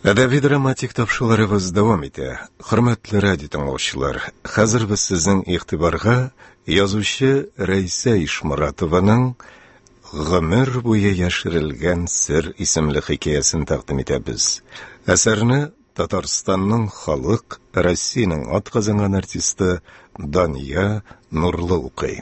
Әдәби драматик тапшыларыбыз дәвам итә. Хөрмәтле радио тыңлаучылар, хәзер без сезнең игътибарга язучы Рәйсә Ишморатованың Гомер буе яшерелгән сер исемле хикәясен тәкъдим итәбез. Әсәрне Татарстанның халык, Россиянең атказанган артисты Дания Нурлы укый.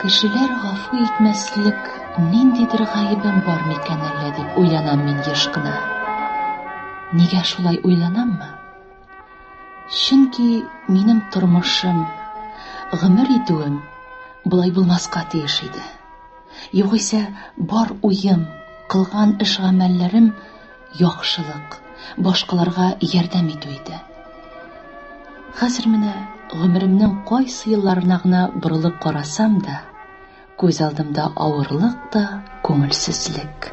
Кешеләр гафу итмәслек ниндидер гаебем бар микән әллә дип уйланам мин еш кына. Нигә шулай уйланаммы? Чөнки минем тормышым, гомер итүем болай булмаска тиеш иде. Югыйсә, бар уем, кылган эш-гамәлләрем Яхшылык, башкаларга ярдәм итү иде. Хәзер менә гомеремнең кайсы елларына гына борылып карасам да, күз алдымда авырлык та, күңелсезлек.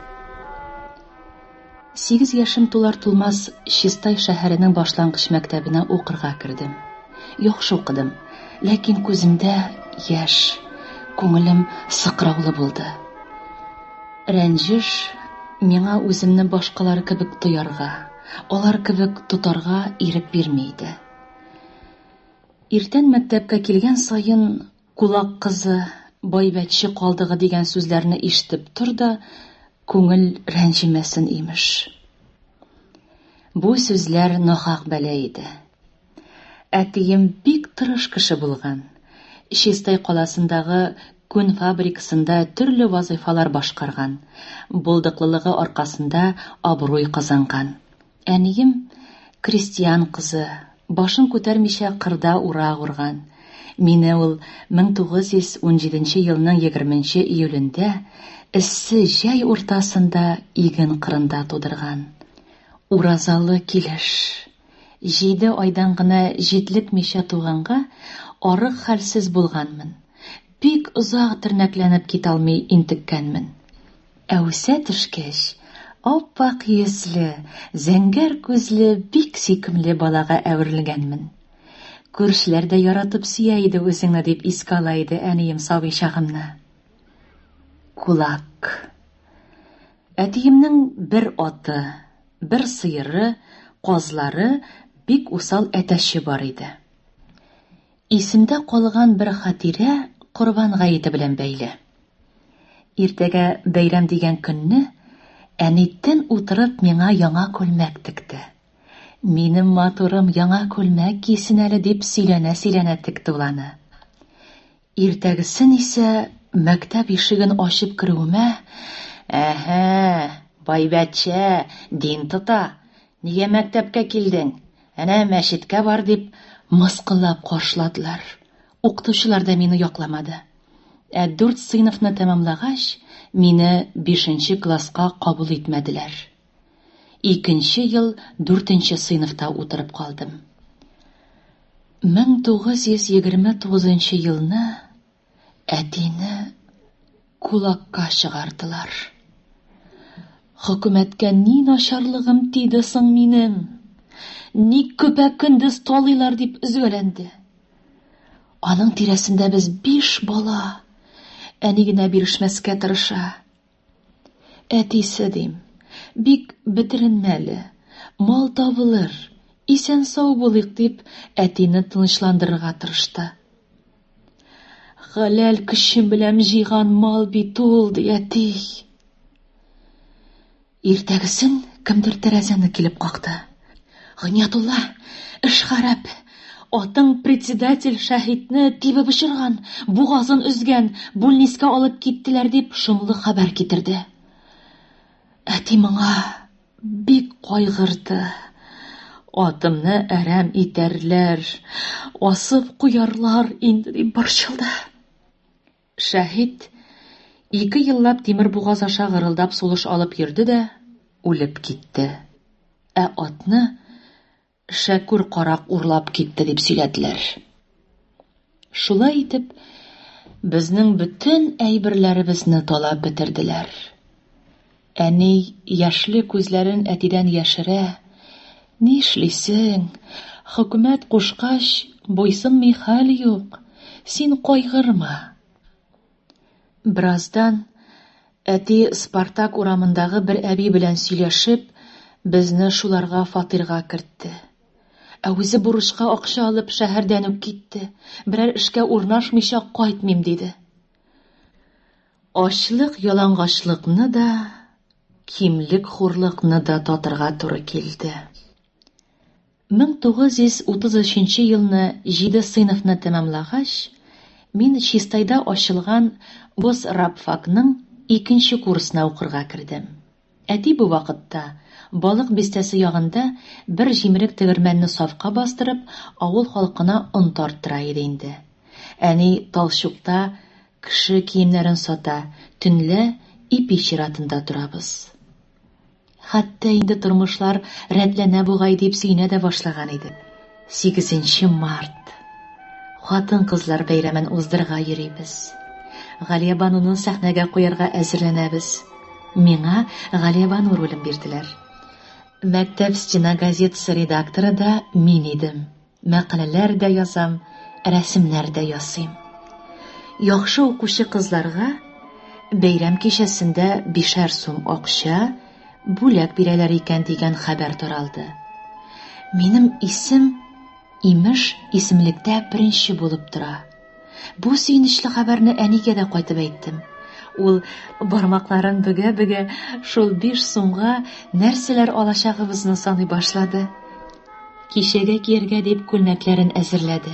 Сигез яшем тулар-тулмас Чистай шәһәренең башлангыч мәктәбенә укырга кердем. Яхшы укыдым, ләкин күземдә яшь, күңелем сыкраулы булды. Рәнҗеш, миңа үземне башкалар кебек тоярга, алар кебек тотарга ирек бирми иде. Иртән мәктәпкә килгән саен, Кулак кызы, байбәтче калдыгы дигән сүзләрне ишетеп тор да, күңел рәнҗемәсен, имеш. Бу сүзләр нахак бәла иде. Әтием бик тырыш кеше булган. Чистай каласындагы күн фабрикасында төрле вазыйфалар башкарган. Булдыклылыгы аркасында абруй казанган. Әнием, крестьян кызы, башын күтәрмичә кырда урак урган. Мине ул 1917 елның егерменче июлендә эссе җәй уртасында иген кырында тудырган. Уразалы килеш. Җиде айдан гына җитлекмичә туганга арык хәлсез булганмын. Бик озак тернәкләнеп киталмый интеккәнмен. Ә үсә төшкәч, ап-ак йөзле, зәңгәр күзле бик сөйкемле балага әверелгәнмен. Күршеләр дә яратып сөя иде үзеңне, дип искә ала иде әнием сабый чагымны. Кулак. Әтиемнең бер аты. Бер сыеры, казлары, бик усал әтәче бар иде. Исемдә калган бер хатирә Корбан гаете белән бәйле. Иртәгә бәйрәм дигән көнне әни тен утырып миңа яңа күлмәк текте. Минем матурым яңа күлмәк кисен әле дип сөйләнә-сөйләнә текте ул аны. Иртәгесен исә мәктәп ишеген ачып керүемә, Әһә, байбәтчә, дин тота, нигә мәктәпкә килдең? Әнә мәчеткә бар, дип, мыскыллап каршыладылар. Укытучылар да мине якламады. Ә дүрт сыйныфны тәмамлагач, мине бишенче класска кабул итмәделәр. Икенче ел дүртенче сыйныфта утырып калдым. 1929 елны әтине кулакка чыгардылар. Хөкүмәткә ни начарлыгым тиде соң минем? Ник көпә-көндез талыйлар дип өзгәләнде. Аның тирәсендә без биш бала. Әни генә бирешмәскә тырыша. Әтисе, дим, бик бетеренмәле, мал табылыр, исән-сау булыйк, дип, әтине тынычландырырга тырышты. Хәләл көчем белән җыйган мал бит ул, ди әти. Иртәгесен кемдер тәрәзәне килеп какты. Гыйниятулла, эш харап! Атың председатель Шәһитне тибеп очырган, бугазын өзгән, бүлнискә алып киттеләр, дип шомлы хәбәр китерде. Әти моңа бик кайгырды. Атымны әрәм итәрләр, асып куярлар инде, дип борчылды. Шәһит ике еллап тимер бугаз аша гырылдап сулыш алып йөрде дә үлеп китте. Ә атны Шәкүр карак урлап китте дип сөйләделәр. Шулай итеп, безнең бөтен әйберләребезне талап бетерделәр. Әни яшьле күзләрен әтидән яшерә, Нишлисең, хөкүмәт кушкач, буйсынмый хәл юк, син кайгырма. Бераздан әти Спартак урамындагы бер әби белән сөйләшеп, безне шуларга фатирга кертте. Ә үзе бурычка акча алып шәһәрдән үк китте, берәр эшкә урнашмыйча кайтмыйм диде. Ачлык ялангачлыкны да, кимлек хурлыкны да татырга туры килде. 1933 елны җиде сыйныфны тәмамлагач, мин Чистайда ачылган госрабфакның икенче курсына укырга кердем. Әти бу вакытта, Балык Бистәсе ягында бер җимерек тегермәнне сафка бастырып, авыл халкына он тарттыра иде инде. Әни Талчукта кеше киемнәрен сата, төнлә ипи чиратында торабыз. Хәтта инде тормышлар рәтләнә бугай дип сөенә дә башлаган идек. 8 март хатын-кызлар бәйрәмен уздырырга йөрибез. Галиябануны сәхнәгә куярга әзерләнәбез. Миңа Галиябану ролен бирделәр. Мәктәп стена газетасы редакторы да мин идем. Мәкаләләр дә язам, рәсемнәр дә ясыйм. Яхшы укучы кызларга бәйрәм кичәсендә бишәр сум акча, бүләк бирәләр икән дигән хәбәр таралды. Минем исем, имеш, исемлектә беренче булып тора. Бу сөенечле хәбәрне әнигә дә кайтып әйттем. Ул бармакларын бөгә-бөгә шул биш сумга нәрсәләр алачагыбызны саный башлады. Кичәгә кияргә дип күлмәкләрен әзерләде.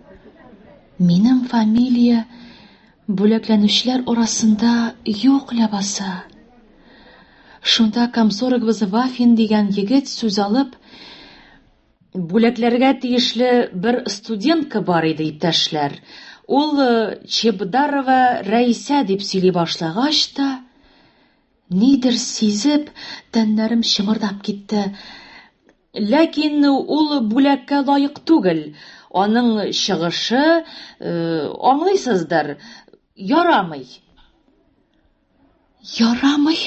Минем фамилия бүләкләнүчеләр арасында юк ләбаса. Шунда комсорогыбыз Вафин дигән егет сүз алып, бүләкләргә тиешле бер студентка бар иде, иптәшләр. Ул э, Чебдарова Рәисә дип сөйли башлагач та, нидер сизеп, тәннәрем чымырдап китте. Ләкин ул бүләккә лаек түгел. Аның чыгышы, аңлыйсыздыр, ярамый. Ярамый?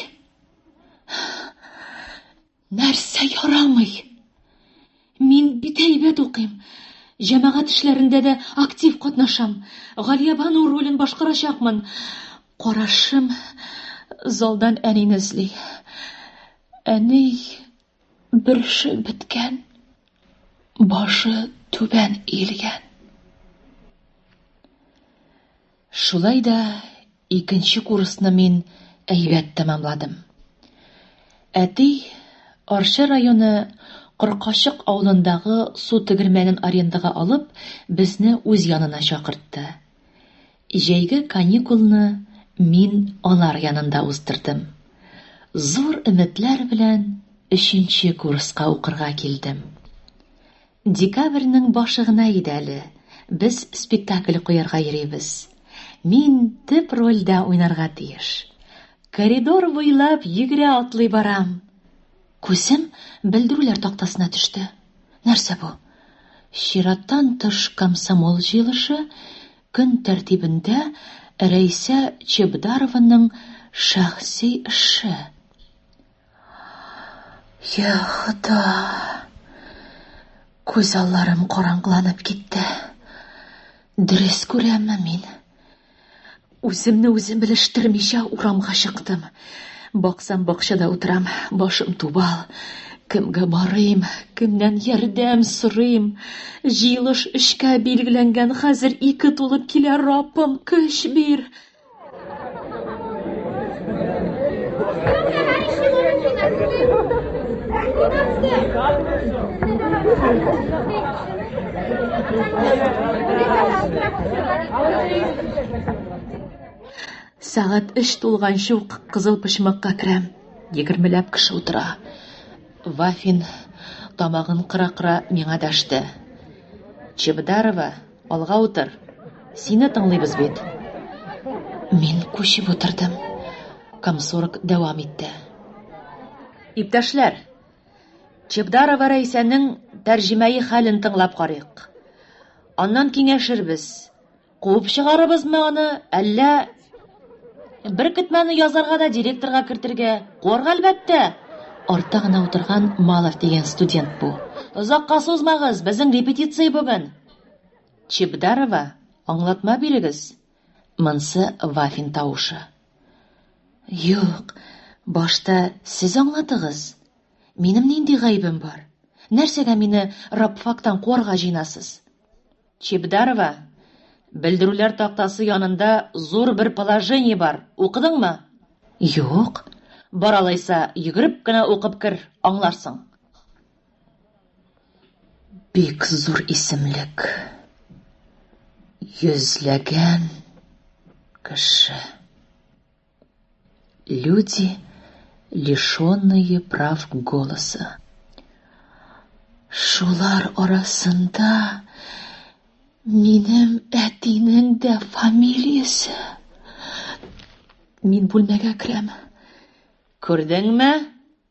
Нәрсә ярамый? Мин бит әйбәт укыйм. Җәмәгать эшләрендә дә актив катнашам. Галиябану ролен башкарачакмын. Карашым залдан әнине эзли. Әни, Бөреше беткән, башы түбән иелгән. Шулай да икенче курсны мин әйбәт тәмамладым. Әти Арча районы Кыркачык авылындагы су тегермәнен арендага алып, безне үз янына чакыртты. Җәйге каникулны мин алар янында уздырдым. Зур өметләр белән өченче курска укырга килдем. Декабрьнең башы гына иде әле, без спектакль куярга йөрибез. Мин төп рольдә уйнарга тиеш. Коридор буйлап йөгерә-атлый барам. Күзем белдерүләр тактасына төште. Нәрсә бу? Чираттан тыш комсомол җыелышы, Көн тәртибендә Рәйсә Чебдарованың шәхси эше. Я, Хода! Күз алларым караңгыланып китте. Дөрес күрәмме мин? Үземне үзем белештермичә урамга чыктым. Баксам, бакчада утырам, башым тубал. Кемгә барыйм, кемнән ярдәм сорыйм? Җыелыш өчкә билгеләнгән, хәзер ике тулып килә, Рапым, көч бир! Сәгать өч тулганчы ук кызыл почмакка керәм. Егермеләп кеше утыра. Вафин тамагын кыра-кыра миңа дәште. Чебдарова, алга утыр. Сине тыңлыйбыз бит. Мин күчеп утырдым. Комсорг дәвам итте. Иптәшләр, Чебдарова Рәйсәнең тәрҗемәи хәлен тыңлап карыйк. Аннан киңәшербез. Куып чыгарыбызмы аны, әллә Беркетмәне язарга да директорга кертергә? Куарга, әлбәттә! Артта гына утырган Малов дигән студент бу. Озакка сузмагыз, безнең репетиция бүген! Чебдарова, аңлатма бирегез! Монсы Вафин тавышы. Юк, башта сез аңлатыгыз. Минем нинди гаебем бар? Нәрсәгә мине рабфактан куарга җыенасыз? Чебдарова, Белдерүләр тактасы янында зур бер положение бар, укыдыңмы? Юк. Бар алайса, йөгереп кенә укып кер, аңларсың. Бик зур исемлек. Йөзләгән кеше. Люди, лишенные прав голоса. Шулар арасында минем әтинең дә фамилиясе. Мин бүлмәгә керәм. Күрдеңме?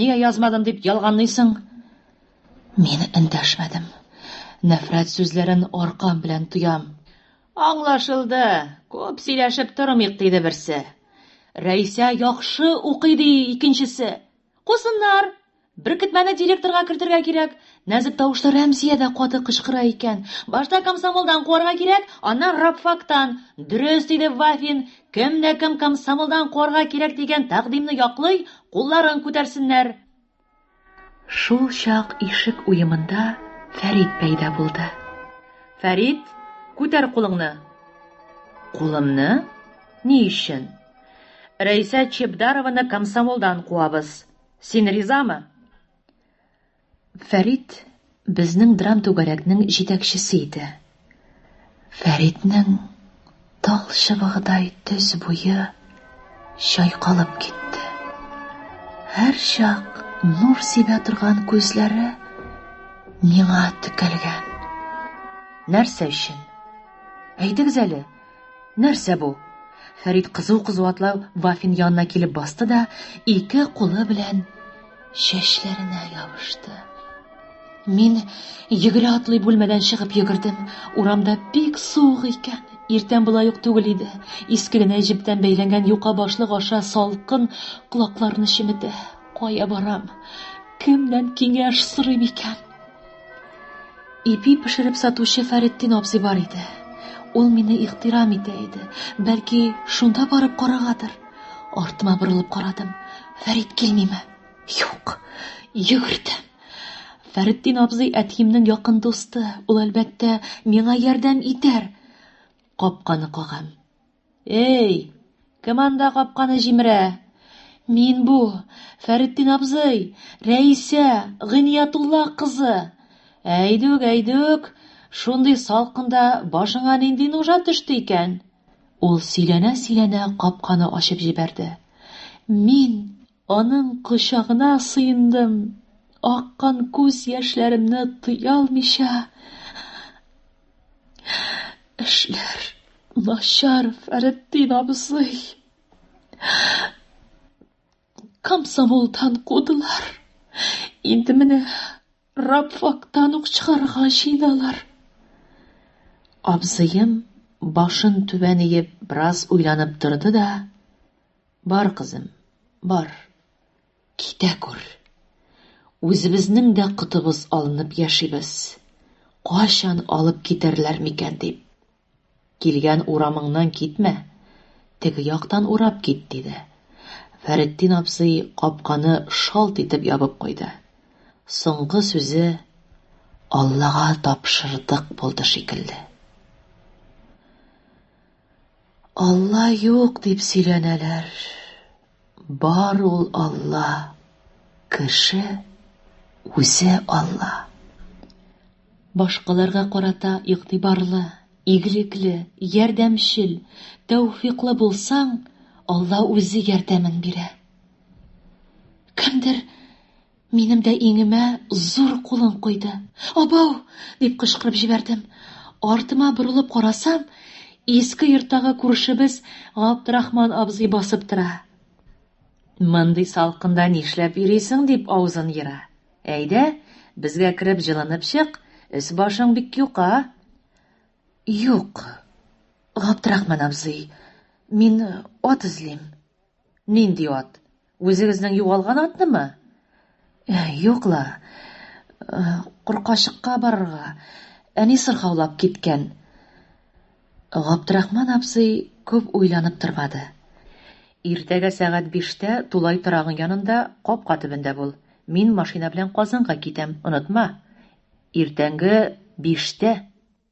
Нигә язмадым дип ялганлыйсың? Мин эндәшмәдем. Нәфрәт сүзләрен аркам белән тоям. Аңлашылды, күп сөйләшеп тормыйк, диде берсе. Рәисә яхшы укый, ди икенчесе. Кусыннар! Беркетмәне директорга кертергә кирәк. Нәзек тавышлы Рәмзия дә каты кычкыра икән. Башта комсомолдан куарга кирәк, аннан рабфактан. Дөрес, диде Вафин, Кем дә кем комсомолдан куарга кирәк дигән тәкъдимне яклый, кулларын күтәрсеннәр. Шул чак ишек уемында Фәрит пәйда булды. Фәрит, күтәр кулыңны. Кулымны? Ни өчен? Рәйсә Чебдарованы комсомолдан куабыз. Син ризамы? Фәрит безнең драм-түгәрәкнең җитәкчесе иде. Фәритнең тал чыбыгыдай төз буе чайкалып китте. Һәрчак нур сибә торган күзләре миңа текәлгән. Нәрсә өчен? Әйтегез әле. Нәрсә бу? Фәрит кызу-кызу атлау Вафин янына килеп басты да, ике кулы белән чәчләренә ябышты. Мин йөгерә атлый бүлмәдән чыгып йөгердем. Урамда бик суык икән. Иртән болай ук түгел иде. Иске генә җептән бәйләнгән юка башлык аша салкын колакларны чеметә. Кая барам? Кемнән киңәш сорыйм икән? Ипи пешереп сатучы Фәреттин абзый бар иде. Ул мине ихтирам итә иде. Бәлки, шунда барып карагадыр. Артыма борылып карадым. Фәрит килмиме? Юк. Йөгердем. Фәреттин абзый әтиемнең якын дусты. Ул, әлбәттә, миңа ярдәм итәр. Капканы кагам. Эй! Кем анда капканы җимерә? Мин бу! Фәретдин абзый! Рәисә! Гыйниятулла кызы! Әйдүк, әйдүк! Шундый салкында башыңа нинди нужа төште икән? Ул сөйләнә-сөйләнә капканы ачып җибәрде. Мин! Аның кочагына сыендым. Аккан күз яшьләремне тыя алмыйча, Эшләр начар, Фәретдин абзый. Комсомолдан кудылар. Инде менә рабфактан ук чыгарга җыеналар. Абзыем башын түбән иеп, бераз уйланып торды да, Бар, кызым, бар, китә күр. Үзебезнең дә котыбыз алынып яшибез. Кайчан алып китәрләр микән дип. Килгән урамыңнан китмә, теге яктан урап кит, диде. Фәретдин абзый капканы шалт итеп ябып куйды. Соңгы сүзе Аллага тапшырдык булды шикелле. Алла юк дип сөйләнәләр. Бар ул Алла. Кеше үзе Алла. Башкаларга карата игътибарлы, игелекле, ярдәмчел, тәүфиклы булсаң, Алла үзе ярдәмен бирә. Кемдер Минем дә иңемә зур кулын куйды. Абау! дип кычкырып җибәрдем. Артыма борылып карасам, иске йорттагы күршебез Габдрахман абзый басып тора. Мондый салкында нишләп йөрисең, дип авызын ера. Әйдә, безгә кереп җылынып чык, өс-башың бик юка. Юк, Габдрахман абзый, мин ат эзлим. Нинди ат? Үзегезнең югалган атнымы? Юк ла. Куркачыкка барырга. Әни сырхаулап киткән. Габдрахман абзый күп уйланып тормады. Иртәгә сәгать биштә тулай торагың янында капка төбендә бул. Мин машина белән Казанга китәм, онытма. Иртәнге биштә!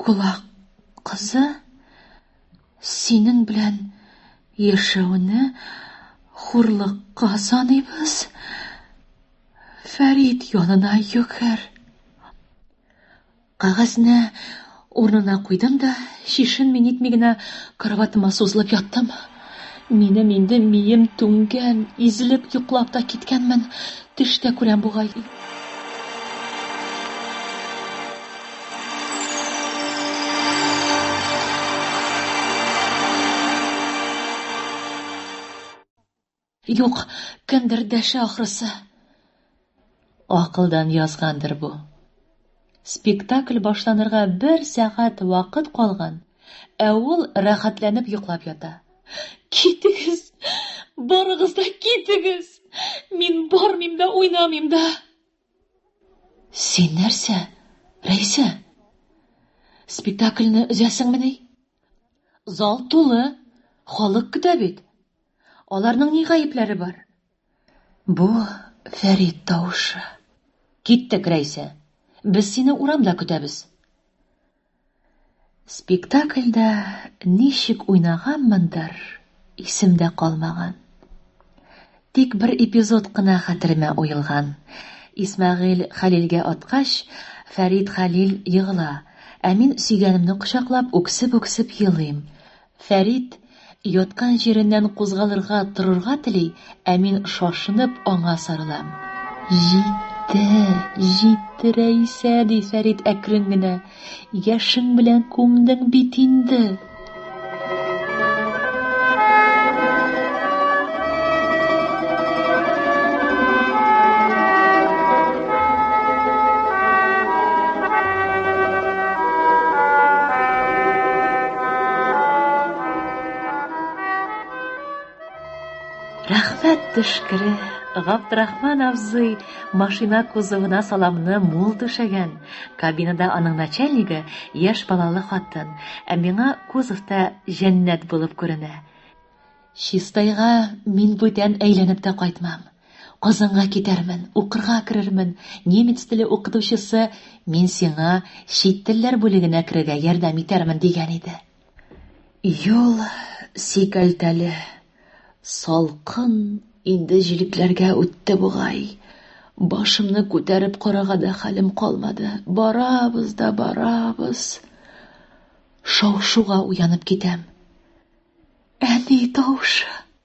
Колак кызы, синең белән яшәүне хурлыкка саныйбыз. Фәрид янына йөгер. Кагазьне урынына куйдым да, чишенми-нитми генә кроватема сузылып яттым. Минем инде мием түңгән, изелеп йоклап та киткәнмен, төш тә күрәм бугай. Юк, кемдер дәшә ахрысы. Акылдан язгандыр бу. Спектакль башланырга бер сәгать вакыт калган, ә ул рәхәтләнеп йоклап ята. Китегез! Барыгыз да китегез! Мин бармыйм да, уйнамыйм да! Син нәрсә, Рәйсә? Спектакльне өзәсеңмени? Зал тулы, халык көтә бит. Аларның ни гаепләре бар? Бу Фәрит тавышы. Киттек, Рәйсә. Без сине урамда көтәбез. Спектакльдә ничек уйнаганмындыр, исемдә калмаган. Тик бер эпизод кына хәтеремә уелган. Исмәгыйль Хәлилгә аткач, Фәрид Хәлил егыла, ә мин сөйгәнемне кочаклап үксеп-үксеп елыйм. Фәрит яткан җиреннән кузгалырга, торырга тели, ә мин шашынып аңа сарылам. Җитте, җитте, Рәисә, ди Фәрит әкрен генә. Яшең белән күмдең бит инде. Рәхмәт төшкере, Габдрахман абзый машина кузовына саламны мул түшәгән. Кабинада аның начальнигы яшь балалы хатын, ә миңа кузовта җәннәт булып күренә. Чистайга мин бүтән әйләнеп тә кайтмам. Казанга китәрмен, укырга керермен, немец теле укытучысы, мин сиңа чит телләр бүлегенә керергә ярдәм итәрмен, дигән иде. Юл сикәлтәле, салкын, инде җилекләргә үтте бугай. Башымны күтәреп карага да хәлем калмады. Барабыз да барабыз. Шау-шуга уянып китәм. Әни тавышы.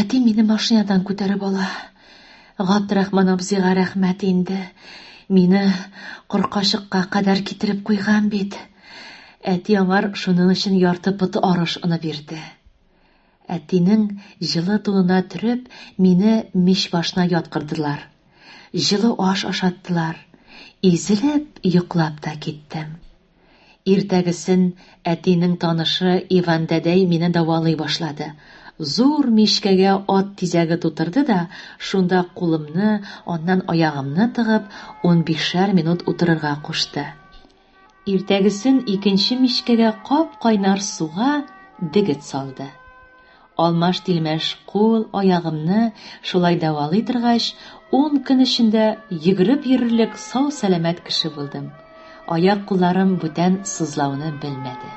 Әти мине машинадан күтәреп ала. Габдрахман абзыйга рәхмәт инде. Мине куркачыкка кадәр китереп куйган бит. Әти аңар шуның өчен ярты поты арыш оны бирде. Әтинең җылы тунына төреп, мине мич башына яткырдылар. Җылы аш ашаттылар. Изелеп йоклап та киттем. Иртәгесен әтинең танышы Иван дәдәй мине дәвалый башлады. Зур мичкәгә ат тизәге тутырды да, шунда кулымны, аннан аягымны тыгып, унбишәр минут утырырга кушты. Иртәгесен икенче мичкәгә кап-кайнар суга дегет салды. Алмаш-тилмәш кул, аягымны шулай дәвалый торгач, ун көн эчендә йөгереп йөрерлек сау-сәламәт кеше булдым. Аяк-кулларым бүтән сызлауны белмәде.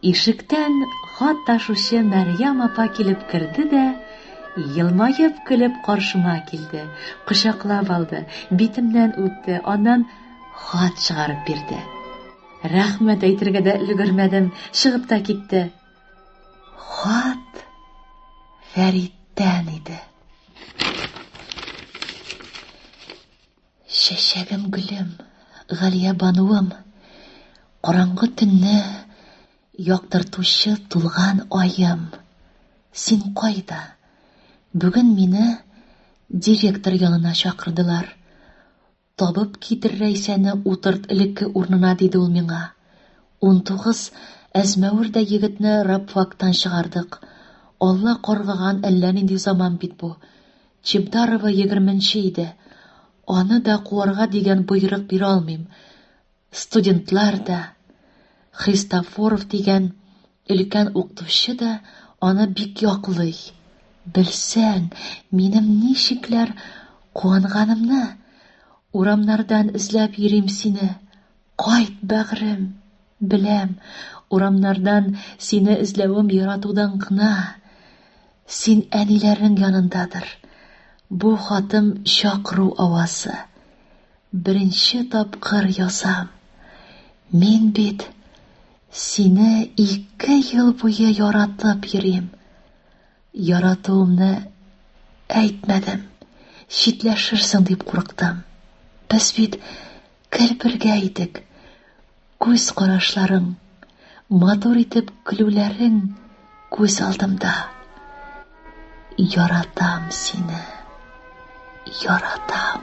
Ишектән хат ташучы Мәрьям апа килеп керде дә, елмаеп көлеп каршыма килде, кочаклап алды, битемнән үпте, аннан хат чыгарып бирде. Рәхмәт әйтергә дә өлгермәдем, чыгып та китте. Хат Фәриттән иде. Чәчәгем, гөлем, Галия бануым, Караңгы төнне яктыртучы тулган аем, син кайда? Бүген мине директор янына чакырдылар. Табып китер Рәйсәне утырт элекке урнына, диде ул миңа. Унтугыз әзмәвер дә егетне рабфактан чыгардык. Алла каргаган әллә нинди заман бит бу. Чебдарова егерменче иде. Аны да куарга дигән боерык бирә алмыйм. Студентлар да, Христофоров дигән өлкән укытучы да аны бик яклый. Белсәң, минем ничекләр куанганымны! Урамнардан эзләп йөрим сине. Кайт, бәгърем! Беләм, урамнардан сине эзләвем яратудан гына. Син әниләрнең янындадыр. Бу хатым чакыру авазы. Беренче тапкыр язам. Мин бит сине ике ел буе яратып йөрим. Яратуымны әйтмәдем, читләшерсең дип курыктым. Без бит гел бергә идек. Күз карашларың, матур итеп көлүләрең күз алдымда. Яратам сине. Яратам.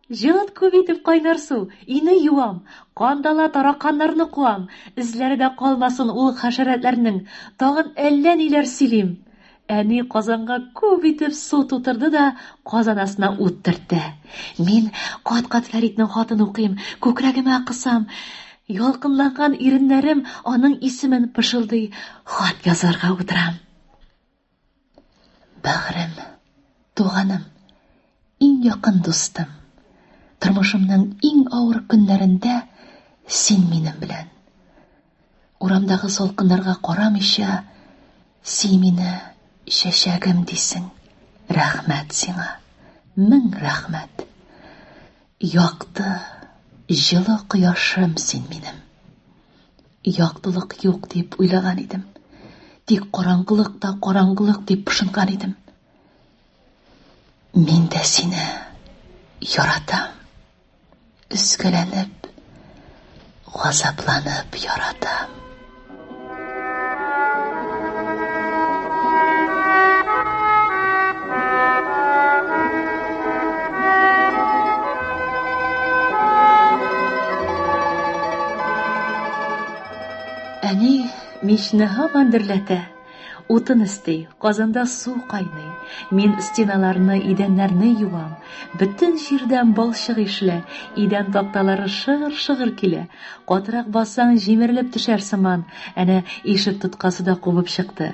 Җылыт күп итеп кайнар су, өйне юам, кандала тараканнарны куам, эзләре дә калмасын ул хәшәрәтләрнең, тагын әллә ниләр сөйлим. Әни казанга күп итеп су тутырды да казан астына ут төртте. Мин кат-кат Фәритнең хатын укыйм, күкрәгемә кысам. Ялкынланган иреннәрем аның исемен пышылдый, хат язарга утырам. Бәгърем, туганым, иң якын дустым. Тормышымның иң авыр көннәрендә син минем белән. Урамдагы салкыннарга карамыйча, син мине чәчәгем дисең. Рәхмәт сиңа. Мең рәхмәт. Якты, җылы кояшым син минем. Яктылык юк дип уйлаган идем. Тик караңгылык та караңгылык дип пышынган идем. Мин дә сине яратам. Өскәләнеп, газапланып яратам. Әни мичне һаман дөрләтә. Утын өсти, казанда су кайный. Мин стеналарны, идәннәрне юам. Бөтен җирдән балчык ишле, идән такталары шыгыр-шыгыр килә. Катырак бассаң, җимерелеп төшәр сыман. Әнә ишек тоткасы да кубып чыкты.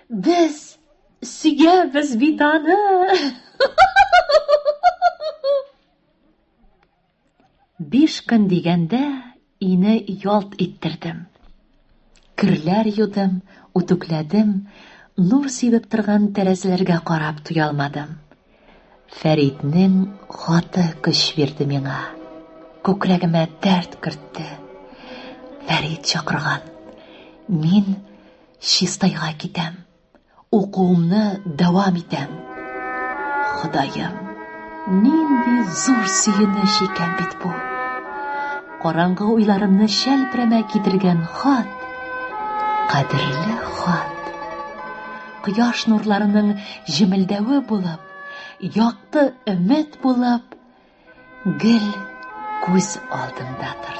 Без сөябез бит аны. Биш көн дигәндә ине ялт иттердем. Керләр юдым, үтүкләдем, нур сибеп торган тәрәзәләргә карап туя алмадым. Фәриднең хаты көч бирде миңа. Күкрәгемә дәрт кертте. Фәрид чакырган. Мин Чистайга китәм. Укуымны дәвам итәм. Ходаем, нинди зур сөенеч икән бит бу. Караңгы уйларымны шәлпрәмә китергән хат. Кадерле хат. Кояш нурларының җемелдәве булып, якты өмет булып, Гел күз алдында торды.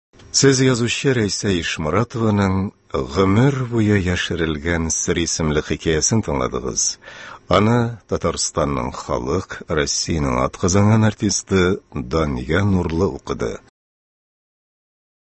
Сез язучы Рәйсә Ишморатованың Гомер буе яшерелгән сер исемле хикәясен тыңладыгыз. Аны Татарстанның халык, Россиянең атказанган артисты Дания Нурлы укыды.